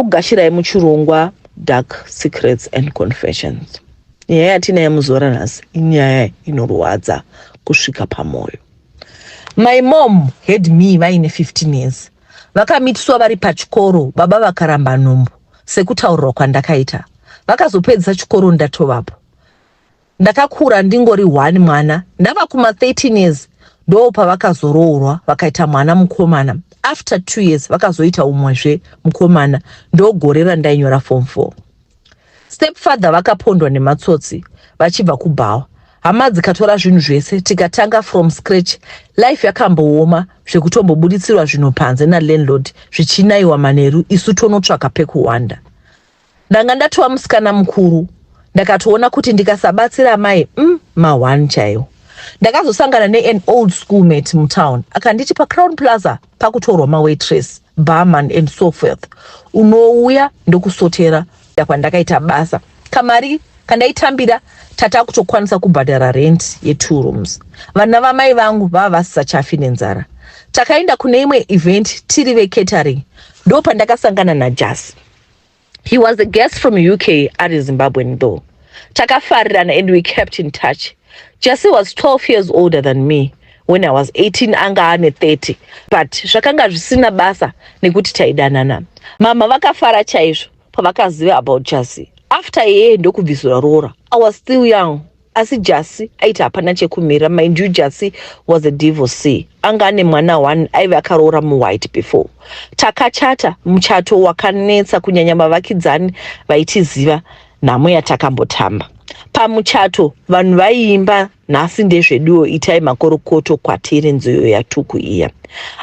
Gashirayi muchirongwa Dark Secrets and Confessions. Nyaya yatinaye muzora nhasi inyaya inorwadza kusvika pamwoyo. My mom had me vaine 15 years. Vakamitiswa vari pachikoro baba vakaramba nhumbu sekutaurirwa kwandakaita. Vakazopedzisa chikoro ndatovapo. Ndakakura ndingori one mwana ndava kuma 13 years ndoo pavakazoroorwa vakaita mwana mukomana after two years vakazoita umwezve mukomana ndogore randainyora form four. Stepfather vakapondwa nematsotsi vachibva kubhawa hama dzikatora zvinhu zvese tikatanga from scratch life yakambooma zvekutombobuditsirwa zvinhu panze nalandlord zvichinaiwa manheru isu tonotsvaka pekuhwanda Ndanga ndatova musikana mukuru ndakatoona kuti ndikasabatsira amai mm, mahwani chaiwo. Ndakazosangana nean old school mate mutown akanditi paCrown Plaza pakutorwa mawaitress, barman and so forth, unouya ndokusotera kwandakaita basa kamari kandaitambira tata kutokwanisa kubhadhara rent yetwo rooms. Vana vamai vangu vava vasisachafi nenzara. Takaenda kune imwe event tiri vecatering ndopandakasangana naJasi. He was a guest from UK ari Zimbabwean though. Takafarirana and we kept in touch. Jesse was 12 years older than me when I was 18 anga ane 30 but zvakanga zvisina basa nekuti taidanana. Mama vakafara chaizvo pavakaziva about Jesse. After yeye ndokubvisirwa roora. I was still young. asi jasi aiti hapana chekumira mind you jasi was a divorcee anga ane mwana one aive akaroora muwhite before takachata muchato wakanetsa kunyanya vavakidzani vaitiziva nhamo yatakambotamba pamuchato vanhu vaiimba nhasi ndezveduwo itai makorokoto kwatiri nziyo yatuku iya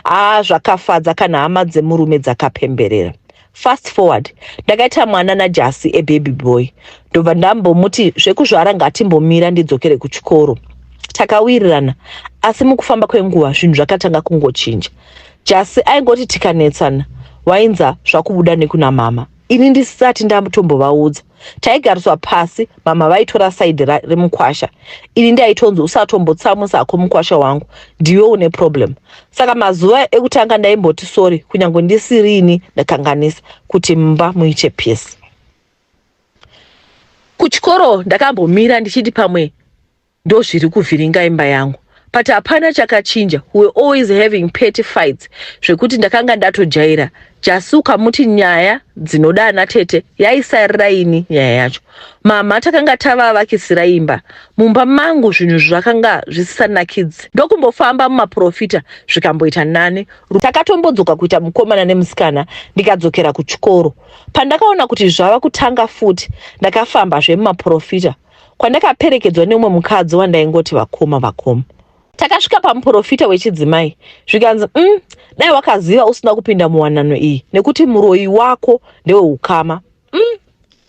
aa zvakafadza kana hama dzemurume dzakapemberera Fast forward ndakaita mwana najasi a baby boy ndobva ndambomuti zvekuzvara ngatimbomira ndidzokere kuchikoro takawirirana asi mukufamba kwenguva zvinhu zvakatanga kungochinja jasi aingoti tikanetsana wainza zvakubuda nekuna mama ini ndisisati ndatombovaudza taigariswa pasi mama vaitora saidi remukwasha ini ndaitonzi usatombotsamwisa hako mukwasha wangu ndiwe une problem saka mazuva ekutanga ndaimboti sori kunyange ndisirini ndakanganisa kuti mumba muite pisi kuchikoro ndakambomira ndichiti pamwe ndozviri kuvhiringa imba yangu but hapana chakachinja we always having petty fights zvekuti ndakanga ndatojaira jasi ukamuti nyaya dzinoda ana tete yaisarira ini nyaya yacho mama takanga tavavakisira imba mumba mangu zvinhu zvakanga zvisisanakidzi ndokumbofamba mumaprofita zvikamboita nani takatombodzoka kuita mukomana nemusikana ndikadzokera kuchikoro pandakaona kuti zvava kutanga futi ndakafamba zvemumaprofita kwandakaperekedzwa neumwe mukadzi wandaingoti vakoma vakoma takasvika pamuprofita wechidzimai zvikanzi um dai wakaziva usina kupinda muwanano iyi nekuti muroyi wako ndeweukama um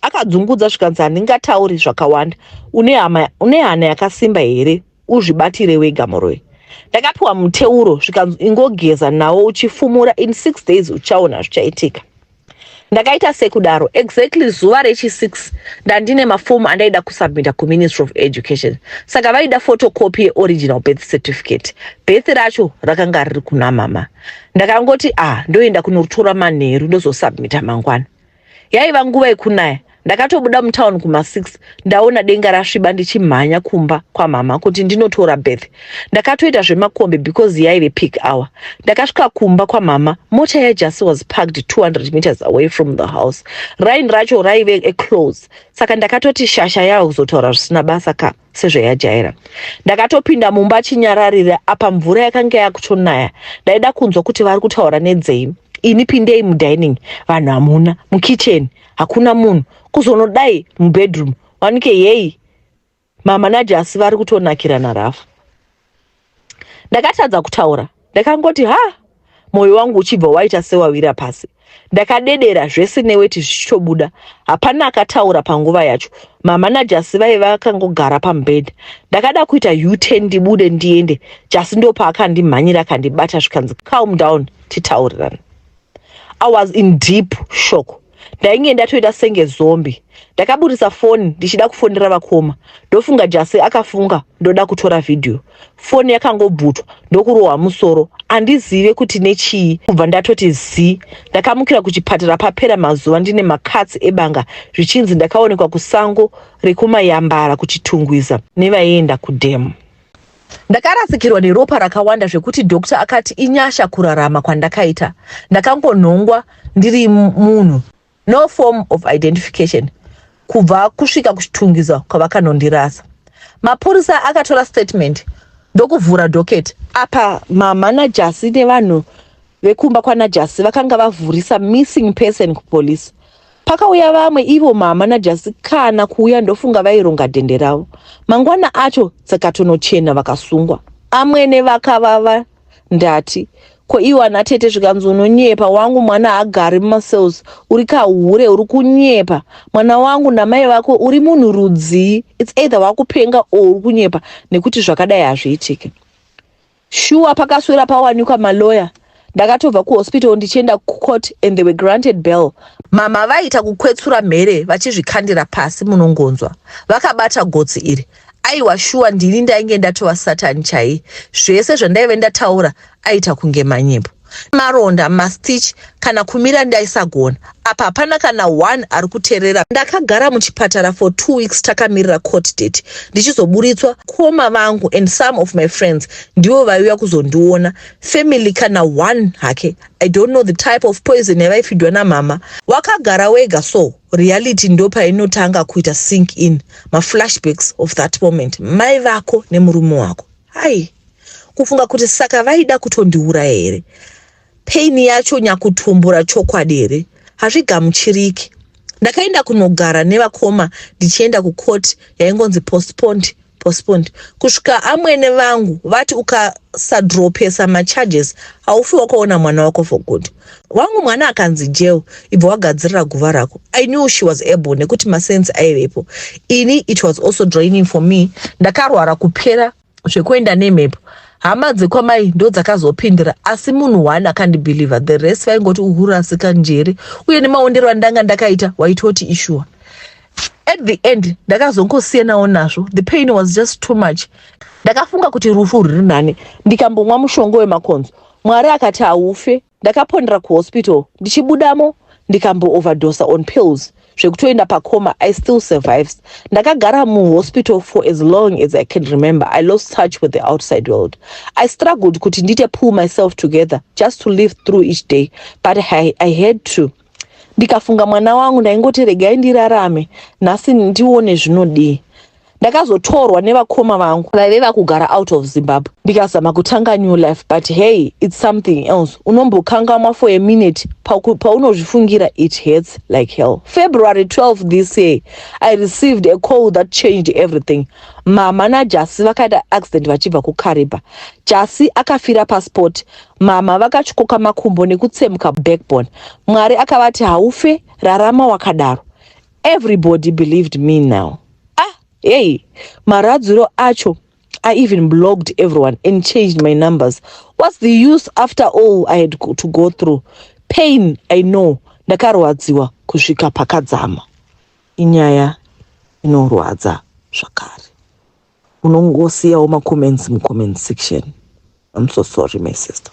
akadzungudza zvikanzi handingatauri zvakawanda une hana yakasimba here uzvibatire wega muroyi ndakapiwa muteuro zvikanzi ingogeza nawo uchifumura in six days uchaona zvichaitika Ndakaita sekudaro. Exactly zuva rechi 6 ndandine maform andaida kusubmita kuMinistry of Education. Saka vaida photocopy yeoriginal birth certificate. Birth racho rakanga riri kuna mama. Ndakangoti ah ndoenda kunotora manheru ndozosubmita mangwana. Yaiva nguva yekunaya. ndakatobuda mutown kuma6 ndaona denga rasviba ndichimhanya kumba kwamama kuti ndinotora beth ndakatoita zvemakombi because yaive pick hour ndakasvika kumba kwamama mota yajasi was parked 200 meters away from the house rain racho raive eclose saka ndakatoti shasha yava kuzotaura zvisina basa ka sezvayajaira ndakatopinda mumba chinyararira apa mvura yakanga yakutonaya ndaida kunzwa kuti vari kutaura nedzei ini pindei mudining vanhu hamuna mukitchen hakuna munhu kuzonodai mubedroom wanike yei mamanaje asi vari kutonakirana rafu ndakatadza kutaura ndakangoti ha mwoyo wangu uchibva waita sewawira pasi ndakadedera zvese neweti zvichitobuda hapana akataura panguva yacho mama najasi vaive vakangogara pamubhedha ndakada kuita uten ndibude ndiende jasi ndopaakandimmhanyira akandibata zvikanzi calm down titaurirana I was in deep shock ndainge ndatoita senge zombi ndakaburitsa foni ndichida kufonera vakoma ndofunga jasi akafunga ndoda kutora vhidhiyo foni yakangobvutwa ndokurohwa musoro handizive kuti nechii kubva ndatoti zii ndakamukira kuchipatara papera mazuva ndine makatsi ebanga zvichinzi ndakaonekwa kusango rekumayambara kuchitungwiza nevaienda kudhemu Ndakarasikirwa neropa rakawanda zvekuti doctor akati inyasha kurarama kwandakaita. Ndakangonhongwa ndiri munhu no form of identification kubva kusvika kuchitungiza kwavakanondirasa. Mapurisa akatora statement ndokuvhura docket. Apa mamanajasi nevanhu vekumba kwanajasi vakanga vavhurisa missing person kupolice. Pakauya vamwe ivo mama najasi kana kuuya ndofunga vaironga dhende ravo. Mangwana acho dzakatonochena vakasungwa. Amwene vakavava ndati ko iwo ana tete zvikanzi unonyepa wangu mwana haagari mumacells uri kahure uri kunyepa mwana wangu namai vako uri munhu rudzii its either wakupenga or uri kunyepa nekuti zvakadai hazviitike Shuwa pakaswera pawanikwa ma lawyer ndakatobva ku hospital ndichienda ku court and they were granted bail. Mama vaiita kukwetsura mhere vachizvikandira pasi munongonzwa vakabata gotsi iri. Aiwa shuwa ndini ndainge ndatova Satan chaiye. Zvese zvandaive ndataura aiita kunge manyepo. maronda mastitch kana kumira ndaisagona apa hapana kana one ari kuterera ndakagara muchipatara for two weeks takamirira court date ndichizoburitswa koma vangu and some of my friends ndivo vaiuya kuzondiona family kana one hake i don't know the type of poison yavaifidwa namama wakagara wega so reality ndo painotanga kuita sink in maflashbacks of that moment mai vako nemurume wako Hai, kufunga kuti saka vaida kutondiuraya here? Pain yacho nyakutumbura chokwadi here? Hazvigamuchiriki. Ndakaenda kunogara nevakoma ndichienda kucourt yaingonzi postponed postponed kusvika amwene vangu vati ukasadropesa macharges haufi wakaona mwana wako for good wangu mwana akanzi jail ibva wagadzirira guva rako i knew she was able nekuti masense aivepo ini it was also draining for me ndakarwara kupera zvekuenda nemhepo hama dzekwamai ndo dzakazopindira asi munhu one akandibhilivha the rest vaingoti uhurasika njere uye nemaondero andanga ndakaita waitoti ishuwa at the end ndakazongosiyanawo nazvo the pain was just too much ndakafunga kuti rufu rwuri nani ndikambomwa mushonga wemakonzo Mwari akati haufe. Ndakaponera kuhospital ndichibudamo ndikambo overdoser on pills zvekutoenda pacoma I still survives. Ndakagara muhospital for as long as I can remember. I lost touch with the outside world. I struggled kuti ndite pull myself together just to live through each day but I, I had to ndikafunga mwana wangu ndaingoti regai ndirarame nhasi ndione zvinodii ndakazotorwa nevakoma vangu vaive vakugara out of zimbabwe ndikazama kutanga new life but hey its something else unombokangamwa for a minute paunozvifungira it hurts like hell february 12 this year i received a call that changed everything mama najasi vakaita accident vachibva kukariba jasi akafira pasport mama vakatyoka makumbo nekutsemuka backbone mwari akavati haufe rarama wakadaro Everybody believed me now. Ah, hey, maradziro acho. I even blogged everyone and changed my numbers. What's the use after all I had to go through? Pain, I know. Ndakarwadziwa kusvika pakadzama. Inyaya inorwadza zvakare. Unongosiyawo macomments mucomment section. I'm so sorry my sister.